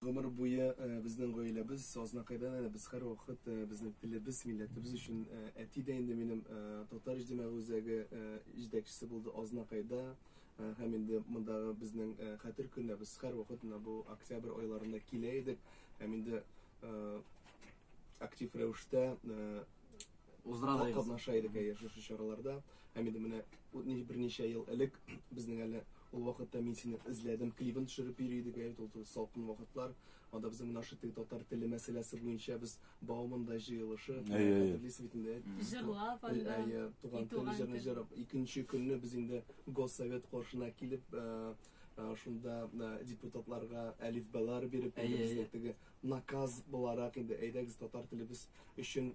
Гомер буе безнең гаиләбез Азнакайдан әле без һәрвакыт безнең телебез, милләтебез өчен әти дә инде минем татар иҗтимагый үзәге җитәкчесе булды Азнакайда һәм инде мондагы безнең хәтер көненә без һәрвакыт менә бу октябрь айларында килә идек һәм инде актив рәвештә Уздыралар. Катнаша идек әйе шушы чараларда. Һәм инде менә берничә ел элек безнең әле ул вакытта мин сине эзләдем клибын төшереп йөри идек әйе ул салкын вакытлар. Анда безнең наша теге татар теле мәсьәләсе буенча без Бауманда җыелышы хәтерлисез бит инде. Җырлап анда. Әйе, туган тел җырын җырлап икенче көнне без инде Госсовет каршына килеп шунда депутатларга әлифбалар биреп, теге Наказ буларак инде әйдәгез татар телебез өчен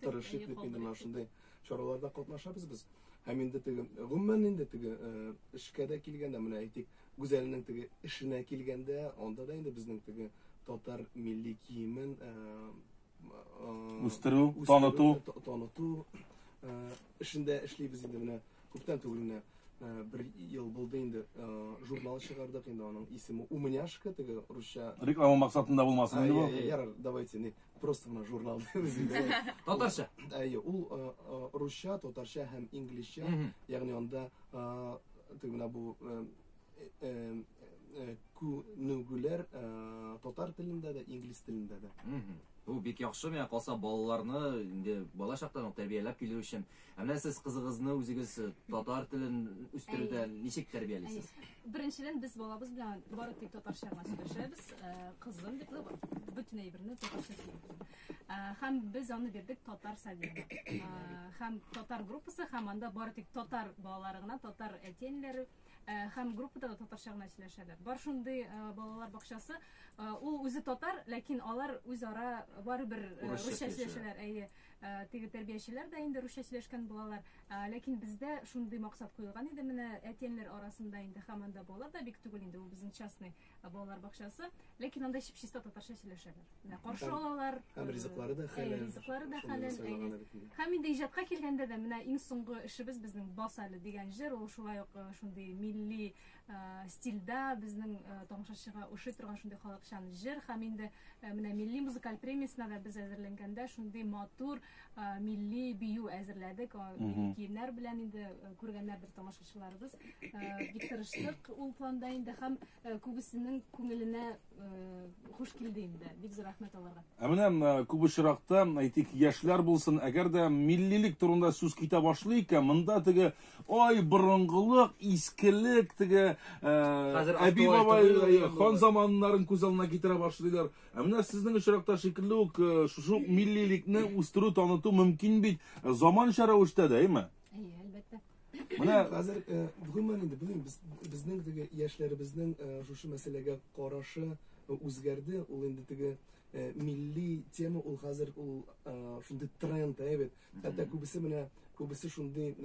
тырышыйк дип инде менә шундый чараларда катнашабыз без һәм инде теге гомумән инде теге эшкә дә килгәндә менә әйтик гүзәлнең теге эшенә килгәндә анда да инде безнең теге татар милли киемен үстерү таныту таныту эшендә эшлибез инде менә Күптән түгел менә бер ел булды инде журнал чыгардык инде аның исеме умняшка теге русча реклама максатында булмасын инде бу ярар давайте не просто мына журнал татарча әйе ул русча татарча һәм инглизчә ягъни анда теге менә бу күнегүләр татар телендә дә инглиз телендә дә Бу бик яхшы, миңа калса балаларны инде бала чактан ук тәрбияләп килү өчен Ә менә сез кызыгызны үзегез татар телен үстерүдә Әйе. ничек тәрбиялисез? Беренчедән, без балабыз белән бары тик татарча гына сөйләшәбез. Э, Кызым бит ул бөтен әйберне татарча сөйли. Э, Һәм без аны бирдек татар садигына. Э, Һәм татар группасы, һәм анда бары тик татар балалары гына, татар әти-әниләре э, һәм группада да татарча гына сөйләшәләр. Бар шундый э, балалар бакчасы. Э, Ул үзе татар, ләкин алар үзара барыбер э, Урысча русча сөйләшәләр. сөйләшәләр. Әйе. Ә, теге тәрбиячеләр дә инде русча сөйләшкән булалар. Ә, ләкин бездә шундый максат куелган иде, менә әтиәниләр арасында инде һәм анда балалар да бик түгел инде, ул безнең частный ә, балалар бакчасы, ләкин анда чип-чиста татарча сөйләшәләр. Менә каршы Һәм- алалар. һәм э, ризыклары да әйе, хәләл. ризыклары да Шуны хәләл. сайлаган әйе. бит инде. Һәм инде иҗатка килгәндә дә менә иң соңгы эшебез безнең Бас әле дигән җыр, ул шулай ук э, шундый милли стильда безнең тамашачыга ошый торган шундый халыкчан җыр һәм инде менә милли музыкаль премиясенә дә без әзерләнгәндә шундый матур милли бию әзерләдек милли киемнәр белән инде күргәннәрдер тамашачыларыбыз бик тырыштык ул планда инде һәм күбесенең күңеленә Хуш килде инде. Бик зур рәхмәт аларга. Ә менә күп очракта, әйтик, яшьләр булсын, әгәр дә миллилек турында сүз китә башлый икән, монда теге ай борынгылык, искелек, теге әби бабай хан заманнарын күз алдына китерә башлыйлар. Ә менә сезнең очракта шикелле үк шушы миллилекне үстерү, таныту мөмкин бит заманча рәвештә дә, әйме? Әйе, әлбәттә. Менә хәзер э, гомумән инде белмим, без безнең теге яшьләребезнең э, шушы мәсьәләгә карашы э, үзгәрде. Ул инде теге милли тема ул хәзер ул шундый тренд, ә бит. Хәтта күбесе менә күбесе шундый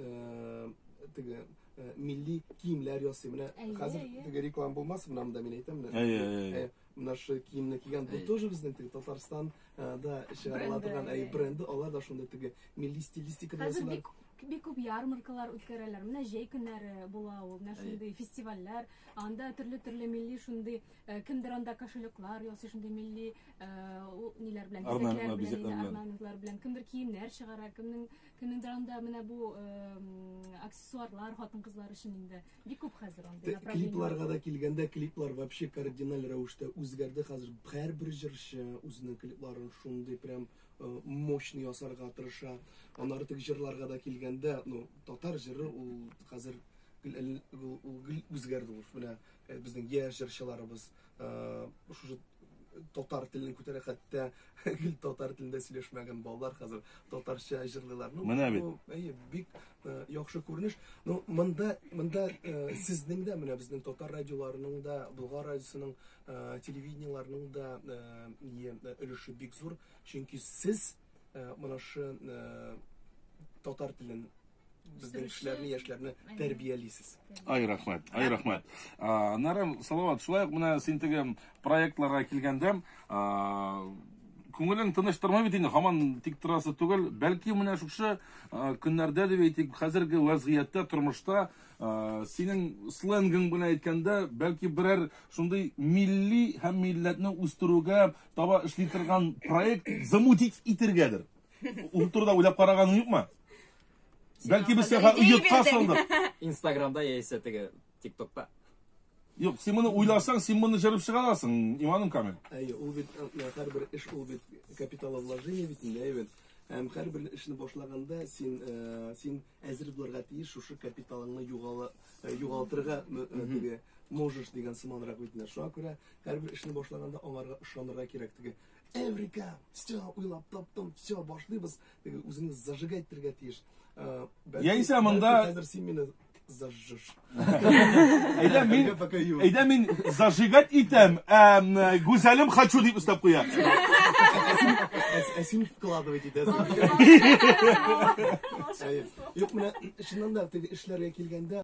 теге милли киемнәр ясый. Менә хәзер теге реклама булмас, менә монда мин әйтәм. Әйе, әйе. наши киемне кигән бу тоже безнең теге татарстан да чыгарыла торган әй бренды алар да шундый теге милли стилистикада хәзер бик бик күп ярмаркалар үткәрәләр менә җәй көннәре була ул менә шундый фестивальләр анда төрле төрле милли шундый э, кемдер анда кошелеклар ясый шундый милли э, ниләр белән орнаментлар белән кемдер киемнәр чыгара кемнең кемнеңдер анда менә бу э, аксессуарлар хатын кызлар өчен инде Бик күп хәзер андый направление. Клипларга да килгәндә, клиплар вообще кардиналь рәвештә үзгәрде. Хәзер һәрбер җырчы үзенең клипларын шундый прям э, мощный ясарга тырыша. Аннары теге җырларга да килгәндә, ну, татар җыры ул хәзер үзгәрде ул. Менә э, безнең яшь җырчыларыбыз шушы татар телен күтәрә хәтта гел татар телендә сөйләшмәгән балалар хәзер татарча җырлыйлар ну менә бит әйе бик яхшы күренеш ну монда монда сезнең дә менә безнең татар радиоларының да болгар радиосының телевидениеләрнең дә өлеше бик зур чөнки сез менә шы татар телен безнең кешеләрне, яшьләрне тәрбиялисез. Ай рәхмәт, ай рәхмәт. Нарым, Салават, шулай ук менә син теге проектларга килгәндә, күңелең тыныч тормый бит инде, һаман тик торасы түгел. Бәлки менә шушы көннәрдә дип әйтик, хәзерге вазгыятьтә, тормышта синең сленгың белән әйткәндә, бәлки берәр шундый милли һәм милләтне үстерүгә таба эшли торган проект замутить итергәдер. Ул турыда уйлап караганың юкмы? Бәлки без сиңа оятка салдык. Инстаграмда яисә теге ТикТокта. Юк, син моны уйласаң, син моны җырып чыга аласың, иманым камил. Әйе, ул бит һәрбер эш ул бит капиталовложение бит инде, әйе. Һәм һәрбер эшне башлаганда син э, син әзер булырга тиеш шушы капиталыңны югала э, югалтырга э, диге можешь дигән сыманрак бит инде. Шуңа күрә һәрбер эшне башлаганда аңарга ышанырга кирәк диге. Эврика! Все, уйлап таптым, все, башлыйбыз. Теге үзеңне зажигать итәргә тиеш. Э, бәлки- Яисә монда- бәлки Хәзер син мине зажжешь. Әйдә мин, пока юк. әйдә мин зажигать итәм, әм, э, гүзәлем хочу дип өстәп куя. Ә- Ә син вкладывать итәсең. Волшебство. Юк, менә чыннан да теге эшләргә килгәндә